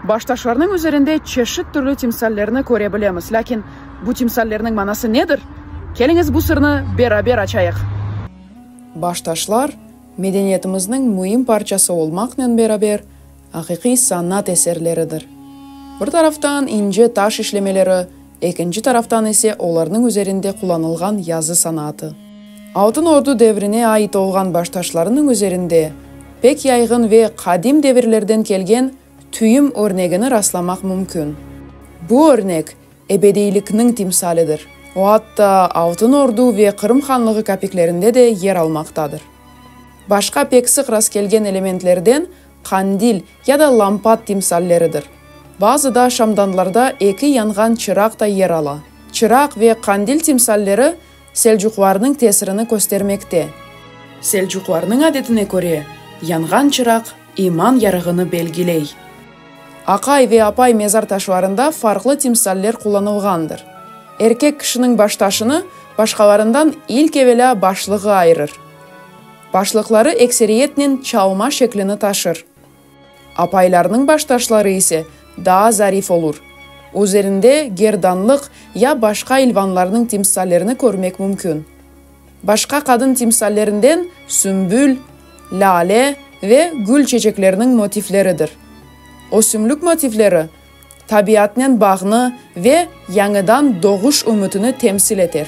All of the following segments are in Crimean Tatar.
Baştaşlarnıñ üzerinde çeşit türlü timsallerni köre bilemiz. Lâkin bu timsallerniñ manası nedir? Keliñiz bu sırnı beraber açayıq. Baştaşlar, medeniyetimizniñ müim parçası olmaqnen beraber, aqiqiy sanat eserleridir. Bir taraftan ince taş işlemeleri, Ekinci taraftan ise olarnıñ üzerinde qullanılğan yazı sanaatı. Altın Ordu devrine ait olğan baştaşlarınıñ üzerinde pek yayğın ve qadim devirlerden kelgen tüyüm örnegini rastlamaq mümkün. Bu örnek ebediylikniñ timsalidir, o atta Altın Ordu ve Qırım Hanlığı kapiklerinde de yer almaqtadır. Başqa pek sıq rastkelgen elementlerden qandil ya da lampat timsalleridir. Bazı da şamdanlarda eki yanğan çıraq da yer ala. Çıraq ve qandil timsalleri Selcuqlarnıñ tesirini köstermekte. Selcuqlarnıñ adetine köre, yanğan çıraq iman yarığını belgiley. Aqay ve Apay mezar taşlarında farqlı timsaller qullanılğandır. Erkek kişiniñ baştaşını başqalarından ilk evelâ başlığı ayırır. Başlıqları ekseriyetnen çalma şeklini taşır. Apaylarnıñ baştaşları ise daa zarif olur. Üzerinde gerdanlıq ya başqa ilvanlarnıñ timsallerini körmek mümkün. Başqa qadın timsallerinden sümbül, lâle ve gül çeçekleriniñ motifleridir. Ösümlik motifleri tabiatnen bağnı ve yañıdan doğuş ümütini temsil eter.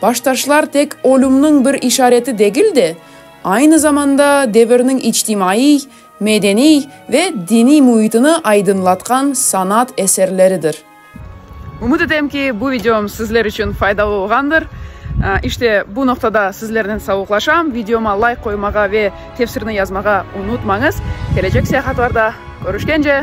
Baştaşlar tek ölümniñ bir işareti degil de, aynı zamanda devirniñ içtimaiy, medeniy ve diniy müitini aydınlatqan sanat eserleridir. Ümüt etem ki, bu videom sizler içün faydalı olğandır. İşte, bu noqtada sizlernen savuqlaşam. Videoma layk qoymağa ve tefsirni yazmağa unutmañız. Kelecek seyahatlarda körüşkence!